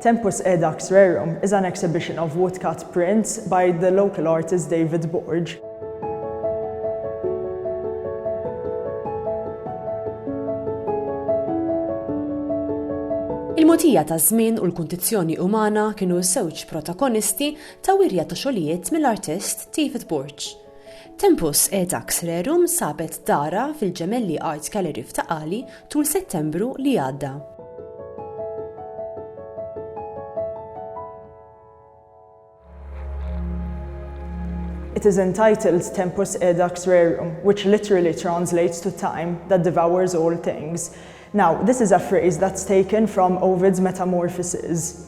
Tempus Edax Rerum is an exhibition of woodcut prints by the local artist David Borg. Il-motija ta' żmien u l-kundizzjoni umana kienu żewġ protagonisti ta' wirja ta' xogħlijiet mill-artist David Borg. Tempus Edax Rerum sabet darha fil-Gemelli Art Gallery f'Ta' Qali tul Settembru li għadda. It is entitled Tempus Edax Rerum, which literally translates to time that devours all things. Now, this is a phrase that's taken from Ovid's Metamorphoses.